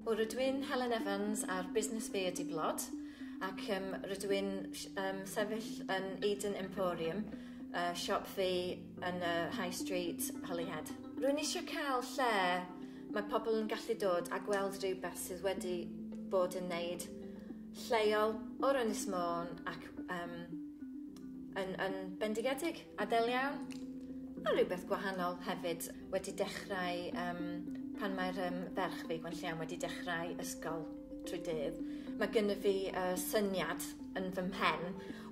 Wel rydw i'n Helen Evans ar Busnes Fi ydi Blod ac um, rydw i'n um, sefyll yn Eden Emporium, uh, siop fi yn y uh, High Street, Holyhead. Rwy'n eisiau cael lle mae pobl yn gallu dod a gweld rhywbeth sydd wedi bod yn neud lleol o'r Ynys Môn ac um, yn, yn bendigedig. Adel iawn, a rhywbeth gwahanol hefyd wedi dechrau um, pan mae'r um, ferch fi, Gwen Lliam, wedi dechrau ysgol trwy dydd. Mae gynnu fi uh, syniad yn fy mhen,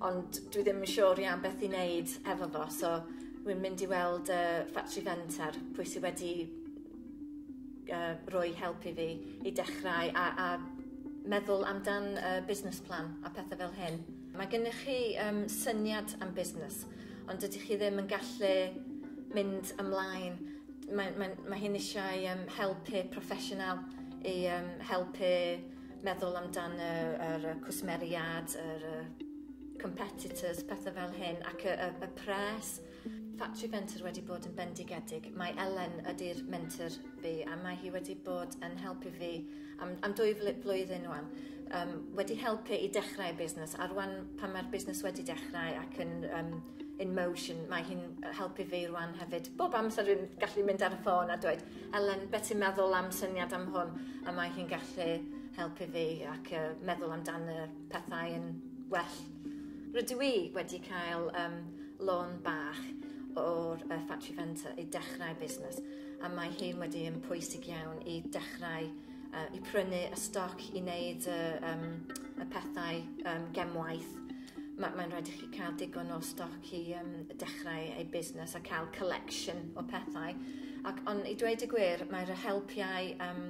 ond dwi ddim yn siŵr iawn beth i wneud efo fo, so rwy'n mynd i weld uh, Factory Fenter, pwy sydd wedi uh, roi help i fi i dechrau a, a meddwl amdan uh, business plan a pethau fel hyn. Mae gennych chi um, syniad am busnes, ond dydych chi ddim yn gallu mynd ymlaen. Mae, mae, mae hyn eisiau um, helpu proffesiynol i um, helpu meddwl amdan y, yr cwsmeriad, yr competitors, pethau fel hyn, ac y, y, y pres, Ffatri Fenter wedi bod yn bendigedig. Mae Elen ydy'r mentor fi a mae hi wedi bod yn helpu fi am, am dwy flwyddyn wan. Um, wedi helpu i dechrau busnes a rwan pan mae'r busnes wedi dechrau ac yn um, in motion, mae hi'n helpu fi rwan hefyd. Bob amser rwy'n gallu mynd ar y ffôn a dweud, Elen, beth ti'n meddwl am syniad am hwn? A Rydw i wedi cael um, lôn bach o'r uh, Factory Fenter i dechrau busnes a mae hyn wedi yn pwysig iawn i dechrau uh, i prynu y stoc i wneud y, um, y pethau um, gemwaith. Mae ma rhaid i chi cael digon o stoc i um, dechrau ei busnes a cael collection o pethau. Ac ond i dweud y gwir, mae'r helpiau um,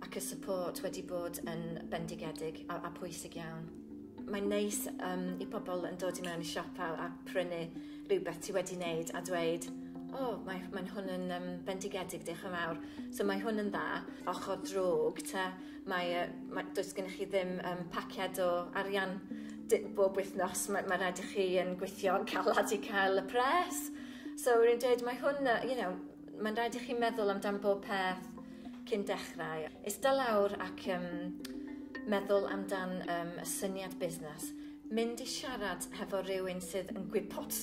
ac y support wedi bod yn bendigedig a, a pwysig iawn. Mae'n neis um, i pobl yn dod i mewn i siop a, a prynu rhywbeth ti wedi wneud a dweud o, oh, mae, mae hwn yn um, bendigedig, diolch yn fawr. So mae hwn yn dda. Ochr drwg, ta, mae, uh, mae, does gennych chi ddim um, paciad o arian bob wythnos. Mae, mae rhaid i chi yn gweithio yn calad i cael y pres. So rwy'n dweud, mae hwn, uh, you know, Mae'n rhaid i chi meddwl amdan bob peth cyn dechrau. Ista lawr ac um, meddwl amdan um, y syniad busnes. Mynd i siarad hefo rhywun sydd yn gwybod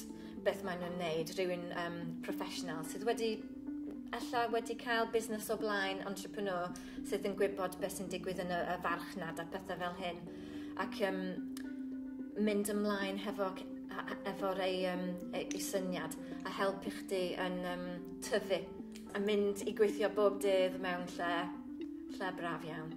beth maen nhw'n wneud, rhywun um, professional sydd wedi ella wedi cael busnes o blaen, entrepreneur sydd yn gwybod beth sy'n digwydd yn y, y farchnad a pethau fel hyn. ac um, mynd ymlaen hefo, efo'r ei, um, ei syniad a helpu chdi yn um, tyfu a mynd i gweithio bob dydd mewn lle, lle braf iawn.